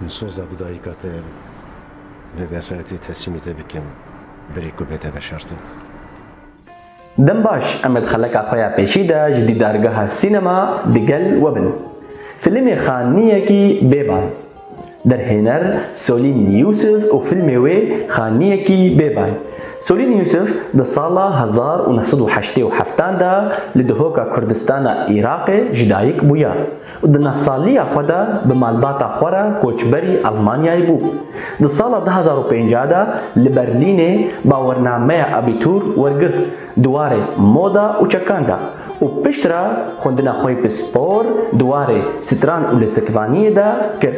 Min soza bi dayika te ve vesayetê teslîmî te bikim berê ku bête veşartin. Dem baş Emed xeleka xwe ya pêşî de ji dîdargeha sînema digel we bin. Filîmê xaniyekî bêban. Derhêner, Solîn Yûsif û fîlmê wê Xaniyekî bêbay. Solîn Yûsif di sala hezar û neh sed û heştê û heftan de li dihoka Kurdistana Iraqê ji dayik bûya û di neh saliya xwe de bi malbata xwe re koçberî Elmanyayê bû. Di sala du hezar û pênceh de li Berlînê bawernameya Abitur wergirt. di warê moda û çekan de û piştre xwendina xwe bi spor di warê stran û lîstikvaniyê de kir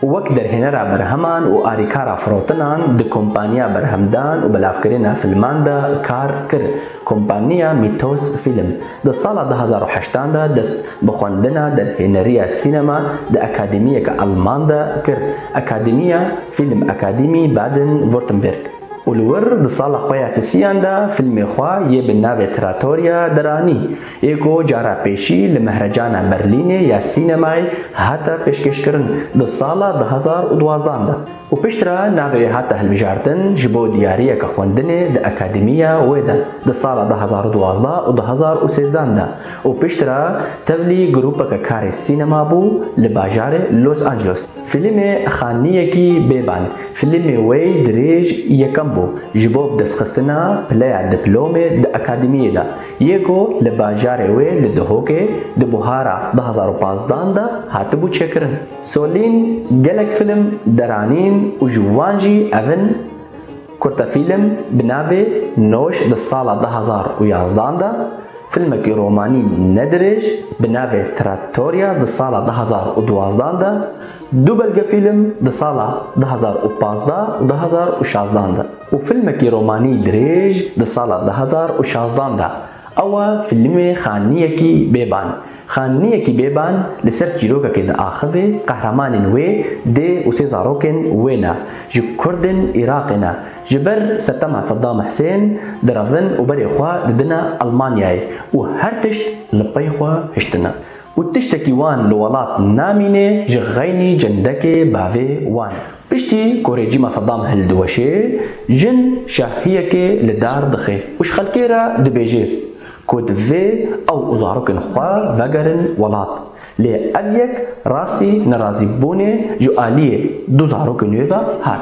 û wek derhênera berheman û alîkara firotinan di kompaniya berhemdan û belavkirina filman de kar kir. Kompaniya Mythos Film di sala du hezar û heşt an de dest bi xwendina derhêneriya sînema di akademiyeke alman de kir, Akademia Filmakademie Baden-Württemberg. û li wir di sala xwe ya sisiyan de fîlmê xwe yê bi navê Trattoria diranî, yê ku cara pêşî li Mehrecana Berlînê ya Sînemayê hate pêşkêşkirin di sala du hezar û duwazdeh de û piştre navê wê hate hilbijartin ji bo diyariyeke xwendinê di akademiya wê de di sala du hezar û duwazdeh û du hezar û sêzdeh de û piştre tevlî grûpeke karê sînema bû li bajarê Los Angelos. Filîmê Xaniyekî Bêban, filîmê wê dirêj yekem bû ji bo bidestxistina pileya diplomê di akademiyê de yê ku li bajarê wê li Dihokê di buhara du hezar û pazdeh de hatibû çêkirin. Solîn gelek filîm deranîn û ji wan jî ev in, Kurtefîlîm bi navê Noş di sala du hezar û yazdeh de, Filmekî romanî ne dirêj bi navê Trattoria di sala du hezar û duwazdeh de, du belgefîlm di sala du hezar û pazdeh û du hezar û şazdeh de û filmekî romanî dirêj di sala du hezar û şazdeh de ew e filmê Xaniyekî Bêban. Xaniyekî Bêban li ser çîrokekê diaxivê, qehremanên wê dê û sê zarokên wê ne, ji Kurdên Iraqê ne, Ji ber setema Saddam Hisên direvin û berê xwe didine Elmanyayê û her tişt li pey xwe hiştine û tiştekî wan li welat namînê ji xeynî cendekê bavê wan e. Piştî ku rejîma Saddam hildiweşê, jin şahiyekê li dar dixê û ji xelkê re dibêje ku divê ew û zarokên xwe vegerin welat. Lê ev yek rastî nerazîbûnê ji aliyê du zarokên wê ve hat.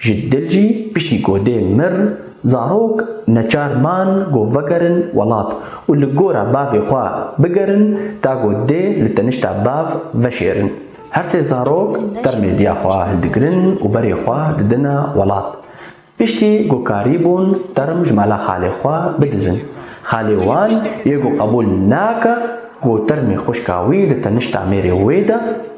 Ji dil jî piştî ku dê mir, zarok neçar man ku vegerin welat û li gora bavê xwe bigerin ta ku dê li tenişta bav veşêrin. Her sê zarok termê diya xwe hildigirin û berê xwe didine welat. Piştî ku karî bûn term ji mala xalê xwe bidizin, xalê wan yê ku qebûl nake ku termê xwişka wî li tenişta mêrê wê de,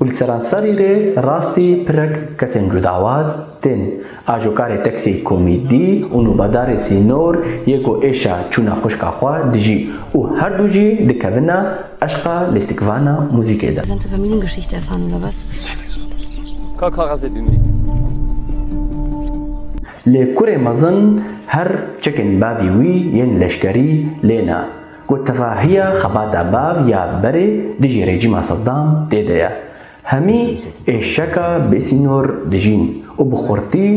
Û li seranserî rê rastî pirek kesên cudawaz tên. Ajokarê teksî komîdî û nûbedarê sînor yê ku êşa çûna xwişka xwe dijî û her du jî dikevina eşqa lîstikvana muzîkê de. Lê kurê mezin her çekên bavî wî yên leşkerî lê ne. Ku tevahiya xebata bav ya berê dijî rejîma Sedam tê de ye. Hemî êşeka bêsînor dijîn û bi xurtî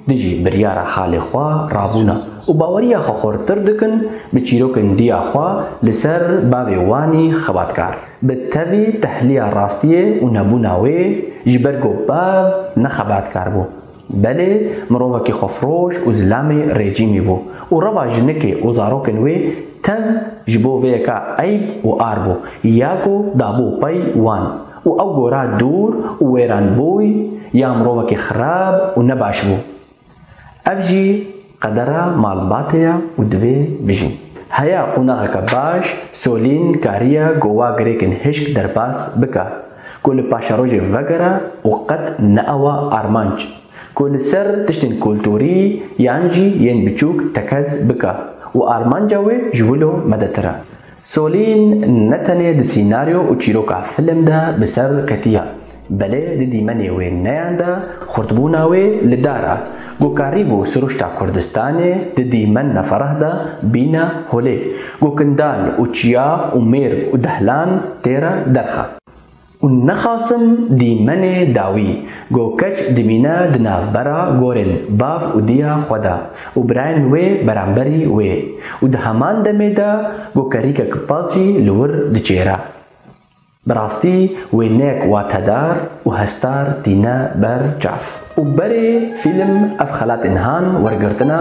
dijî biryara xalê xwe rabûne û baweriya xwe xurtir dikin bi çîrokên diya xwe li ser bavê wanî xebatkar. Bi tevî tehliya rastiyê û nebûna wê ji ber ku bav ne xebatkar bû. Belê mirovekî xwefroş û zilamê rejîmî bû û reva jinikê û zarokên wê tev ji bo vê yeka eyb û ar bû ya ku dabû pey wan û ew gora dûr û wêran bûy ya mirovekî xirab û nebaş bû. Ev jî. Qedera malbatê ya û divê bijîn. Heya qonaxeke baş, Solîn kariya gowa girêkên hişk derbas bika ku li paşerojê vegera û qet neawa armanc ku li ser tiştên kulturî yan jî yên biçûk tekez bika û armanca wê ji wilo medetir e. Solîn ne tenê di sînaryo û çîroka film de bi ser ketiya, belê di dîmenê wê neyan de xurtbûna wê li dar a, ku karîbû siruşta Kurdistanê di dîmen neferah de bîne holê, ku kindan û çiya û mêrg û dehlan têre derxe. Û nexasim dîmenê dawî. Go keç dimîne di navbera gorên bav û diya xwe de û birayên wê beramberî wê û di heman demê de go kerîkek pasî li wir diçêre. Bi rastî wêneyek watedar û hestar tîne ber çav. Û berê fîlm ev xelatê niha wergirtina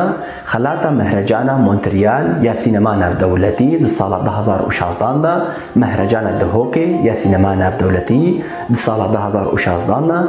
xelata Mehrecana Montreal ya Sînema Navdewletî di sala du hezar û şazdan de, Mehrecana Dihokê ya Sînema Navdewletî di sala du hezar û şazdan de,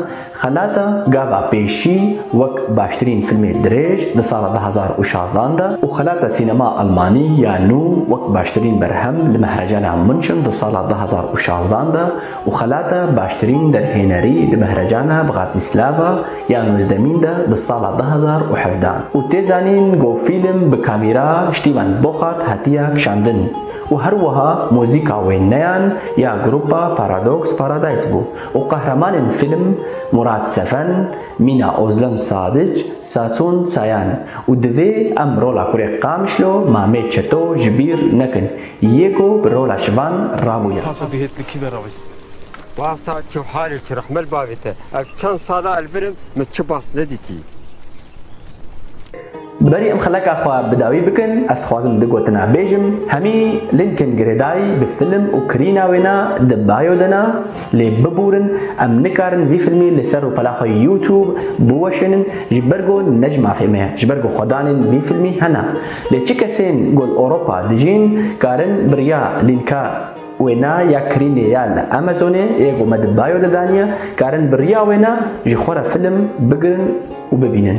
xelata Gava Pêşî wek baştirîn fîlmê dirêj di sala du hezar û şazdan de, û xelata Sînema Elmanî ya Nû wek baştirîn berhem li Mehrecana Munchen di sala du hezar û şazdan de, û xelata baştirîn derhênerî di Mehrejana Bxatislava ya Nûzdemîn de di sala du hezar û hevdeh û tê zanîn ku fîlm bi kamîra Stîvan Boxart hatiye kişandin û her wiha muzîka wêneyan ya grupa Paradox Paradise bû û qehremanên fîlm Murat Sefen, Mîna Ozlem Sadic, Sason Sayan, û divê em rola kurê Qamişlo, Mamê Çeto ji bîr nekin yê ku bi rola şivan rabûye. Pasa bihêt li kî ve ravêst? Pasa çi halê çi rehmel bavê te. Ez çend sal a elvirim min çi bas nedîtî. Bi berî em xeleka xwe bi dawî bikin ez dixwazim du gotina bêjim, hemî Lincoln girêdayî bi film û kirîna wê na di bayo de na, Lê biburin em nikarin vî filmî li ser rûpela xwe YouTube biweşênin ji ber ku ne ji mafê me ye, ji ber ku xwedanên vî filmî hene. Lê çi kesên ku li Ewropa dijîn karin bi riya lînka wêna ya kirînê ya li Amazonê yê ku me di bio de daniye, karin bi riya wêna ji xwe re film bigirin û bibînin.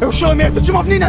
Ew şo mêr tu çima binîne?